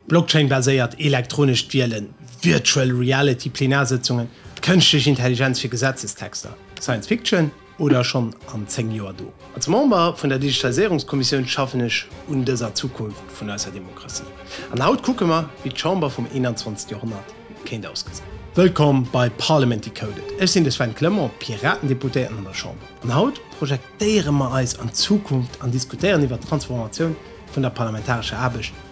Blockchain-baséiert elektronescht Wielen, Virtual Reality Plenarsëtzungen, d'Kënschtlech Intelligenz fir Gesetzestexter, Science Fiction oder schonn an 10 Joer do? Als Member vun der Digitaliséierungskommissioun schaffen ech un dëser Zukunft vun eisser Demokratie. An haut kucke mer, wéi d'Chamber vum 21. Joerhonnert kéint ausgesinn. Wëllkomm bei Parliament Decoded. Ech sinn de Sven Clement, Piratendeputéierten an der Chamber. An haut projektéiere mer eis an d'Zukunft an diskutéieren iwwert d'Transformatioun vun der parlamentarescher Aarbecht,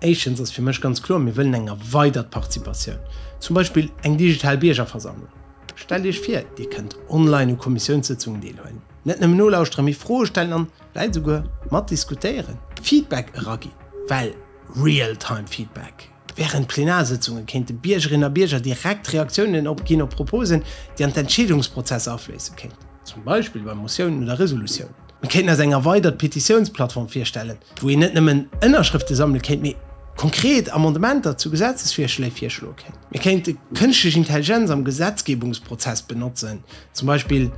Éischtens ass fir mech ganz kloer, mir wëllen eng erweidert Participatioun, zum Beispill eng digital Biergerversammlung. Stellt Iech vir, Dir kënnt online u Kommissiounssëtzungen deelhuelen, net nëmmen nolauschtere mee Froe stellen an, vläit esouguer, mat diskutéieren, Feedback eragi well, Real-time Feedback. Wärend Plenarsëtzunge kéinte Biergerinnen a Bierger direkt Reaktiounen opginn op Proposen, déi an d'Entscheedungsprozesser afléisse kéinten, zum Beispill bei Motiounen oder Resolutiounen. Mir kéinten eis eng erweidert Petitiounsplattform virstellen, wou een net nëmmen Ënnerschrëfte sammele kéint, mee konkret Amendementer zu Gesetzesvirschléi virschloe kéint. Mir kéinte kënschtlech Intelligenz am Gesetzgebungsprozess benotzen, zum Beispill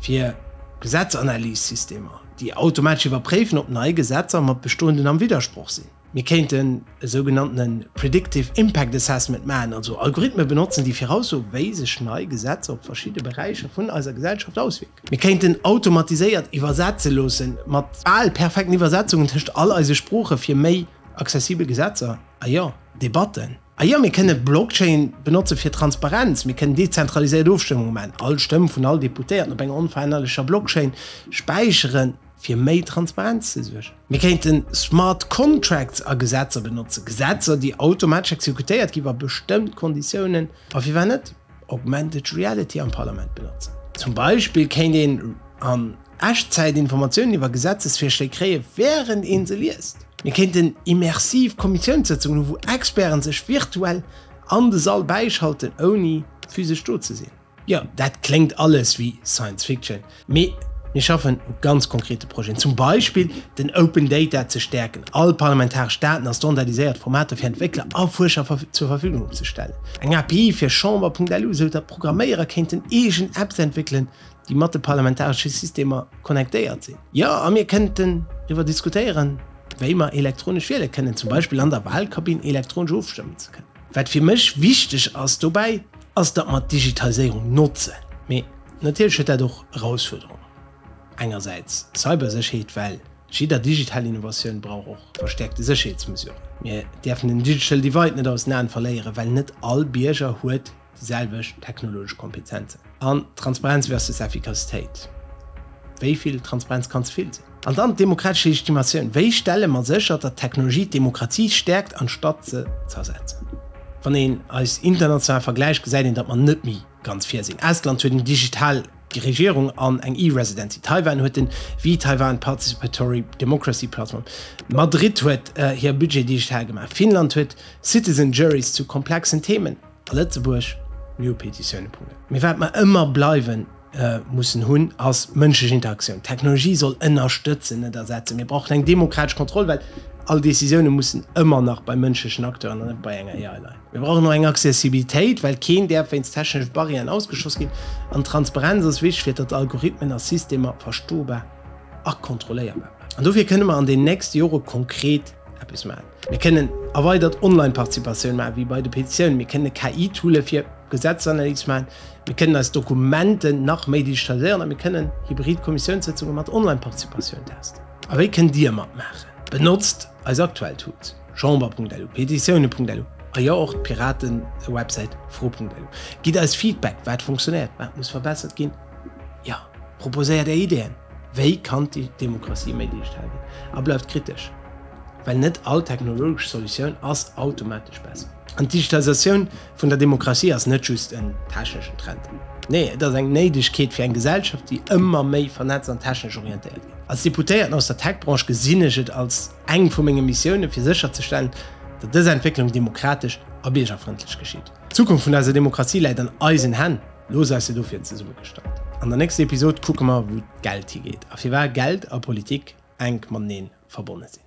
fir Gesetzanalyssystemer, déi automatesch iwwerpréifen, ob nei Gesetzer mat bestoenden am Widdersproch sinn. Mir kéinten e sougenanntene Predictive Impact Assessment maachen, also Algorithme benotzen, déi viraussoen, wéi sech nei Gesetzer op verschidde Beräicher vun eiser Gesellschaft auswierken. Mir kéinten automatiséiert iwwersetze loossen, mat bal perfekten Iwwersetzungen tëscht all eise Sproochen, fir méi accessibel Gesetzer, a jo, Debatten. A jo, mir kënne Blockchain benotzen fir Transparenz. Mir kënnen dezentraliséiert Ofstëmmunge maachen, all Stëmm vun all Deputéierten op enger onverännerlecher Blockchain späicheren. fir méi Transparenz ze suergen. Mir kéinten smart contracts a Gesetzer benotzen, Gesetzer, déi automatesch exekutéiert ginn, wa bestëmmt Konditiounen, a firwat net augmented reality am Parlament benotzen. Zum Beispill kéint een an Echtzäit Informatiounen iwwer Gesetzesvirschléi kréien, wärend ee se liest. Mir kéinten immersiv Kommissiounssëtzungen hu wou Experte sech virtuell an de Sall bäischalten, ouni physesch do ze sinn. Jo, dat kléngt alles wéi Science Fiction, mee mir schaffen u ganz konkrete Projeten. Zum Beispill den Open Data ze stäerken, all parlamentaresch Daten a standardiséiert Formater fir Entwéckler a Fuerscher zur Verfügung opzestellen, eng API fir Chamber.lu, esou datt Programméierer kéinten eegen Apps entwéckelen, déi mat de parlamentaresche Systemer connectéiert sinn. Jo, a mir kënnten driwwer diskutéieren, wéi mer elektronesch wiele kënnen, zum Beispill an der Wahlkabinn elektronesch ofstëmmen ze kënnen. Wat fir mech wichteg ass dobäi, ass datt mer d'Digitaliséierung notzen. Mee natierlech huet dat och Erausfuerderungen. Engersäits d'Cybersécherheet, well jidder digital Innovatioun brauch och verstäerkte Sécherheetsmesuren. Mir däerfen den digital divide net aus den Aen verléieren, well net all Bierger huet Déi selwecht technologesch Kompetenzen. An Transparenz versus Efficacitéit, wéi vill Transparenz kann ze vill sinn? An dann d'demokratesch Legitimatioun, wéi stelle mer sécher, datt d'Technologie d'Demokratie stäerkt anstatt se zersetzen? Wann een eis international vergläicht, gesäit een, datt mer net méi ganz vir sinn. Estland huet eng digital Regierung an eng E-Residency. Taiwan huet den V-Taiwan Participatory Democracy Platform. Madrid huet hir Budget digital gemaach. Finnland huet Citizen Juries zu komplexen Themen. Lëtzebuerg New Petitioune. Punkt. Mee wat mer ëmmer bleiwen mussen hunn, ass mënschlech Interaktioun. D'Technologie soll ënnerstëtzen, net ersetzen. Mir brauchen eng demokratesch Kontroll, well all Décisioune mussen ëmmer nach bei mënschlechen Acteuren an net bei enger AI leien. Mir brauchen och eng Accessibilitéit, well keen däerf wéinst techneschen Barrieren ausgeschloss ginn. An Transparenz ass wichteg, fir datt Algorithmen a Systemer verstobar a kontrolléierbar bleiwen. An dofir kënne mer an den nächste Jore konkret eppes maachen. Mir kënnen erweidert Online-Participatioun maachen, wéi bei de Petitiounen. Mir kënnen KI-Toole fir Gesetzesanalyse maachen. Mir kënnen eis Dokumenten nach méi digitaliséieren a mir kënnen hybrid Kommissiounssëtzunge mat Online-Participatioun testen. A wéi kënnt Dir matmaachen? Benotzt eis aktuell Tools, Chamber.lu, Petitioune.lu a jo och d'Piraten-Websäit fro.lu. Gitt eis Feedback, wat funktionéiert, wat muss verbessert ginn. Jo, proposéiert Är Ideeën! Wéi kann d'Demokratie méi digital ginn? A bleift kritesch, well net all technologesch Solutioun ass automatesch besser. An d'Digitalisatioun vun der Demokratie ass net just en techneschen Trend. Nee, et ass eng Néidegkeet fir eng Gesellschaft, déi ëmmer méi vernetzt an technesch orientéiert gëtt. Als Deputéierten aus der Tech-Branche gesinn ech et als eng vu menge Missiounen, fir sécherzestellen, datt dës Entwécklung demokratesch a biergerfrëndlech geschitt. D'Zukunft vun eiser Demokratie läit an eisen Hänn. Lo seis de do fir en zesummegestallt. An der nächster Episod kucke mer wou d'Geld higeet a firwar Geld a Politik enk matenee verbonne sinn.